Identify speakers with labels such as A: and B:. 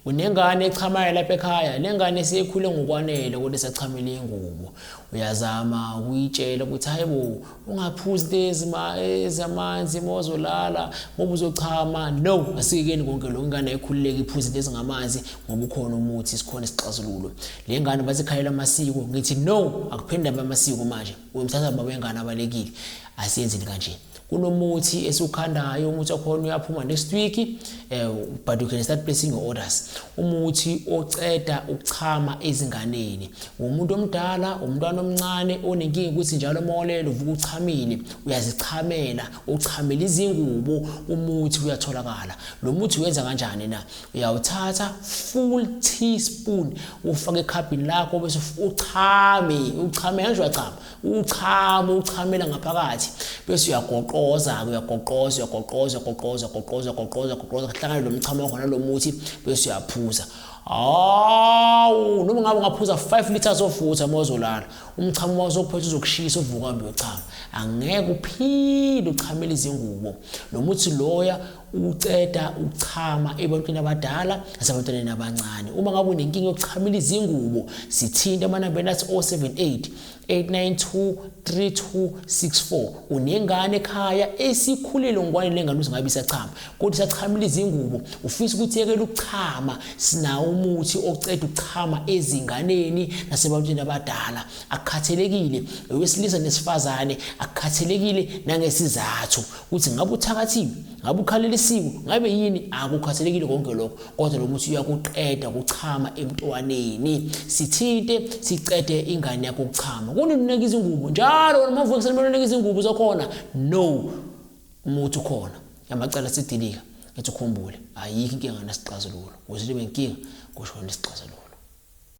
A: Unengane echamayo lapha ekhaya, le ngane seyikhule ngokwanele kodwa isachamela ingubo. Uyazama ukuyitshela ukuthi hayi bo, ungaphuzi lezi ezamanzi uma uzolala ngoba uzochama. No, asikekeni konke lokho. Ingane ayikhululeki iphuze lezi ngamanzi ngoba ukhona umuthi, sikhona isixazululo. Le ngane bathi ikhalela amasiko. Ngithi no, akuphinde amasiko manje. uyomthatha baba wengane abalekile asiyenzeni kanje kunomuthi esiwukhandayo umuthi wakhona uyaphuma next week eh, but you can start placing your orders umuthi oceda ukuchama ezinganeni umuntu omdala umntwana omncane onenkinga ukuthi njalo molelo uvuka uchamile uyazichamela uchamela izingubo umuthi uyatholakala lo muthi uyenza kanjani na uyawuthatha full teaspoon ufake ekhabhini lakho bese uchame uchame kanje uyachama uchame uchamela ngaphakathi bese uyagoqoza-ke uyagoqoza uyagoqoza uyagoqoza uyagoqoza uyagoqoza uyagoqoza kuhlangane lo mchamo wakho nalo muthi bese uyaphuza hawu noma ngabe ungaphuza 5 liters of water uma uzolala umchamo wazophetha uzokushisa uvuka mbe uchama angeke uphinde uchamele izingubo nomuthi loya ukuceda ukuchama ebantwini abadala nasebantwaneni abancane uma ngabe unenkinga yokuchamela izingubo sithinte amanambeni athi 078 892 3264 unengane ekhaya esikhulile ngwane lengane uzingabe isachama kodwa isachamela izingubo ufisa ukuthi yekele ukuchama sinawo umuthi oceda ukuchama ezinganeni nasebantwini abadala akukhathelekile owesilisa nesifazane akukhathelekile nangesizathu ukuthi ngabe uthakathiwe ngabe ukhalelisiwe ngabe yini akukhathalekile konke lokho kodwa lo muthi uyakuqeda kuchama emntwaneni sithinte sicede ingane yakho ukuchama kuninike izingubo njalo noma uvuke seniboleka izingubo zakhona no umuthi ukhona yamacala sidilika ethi ukhumbule ayikho inkinga nasixazululo uzithi benkinga kusho nesixazululo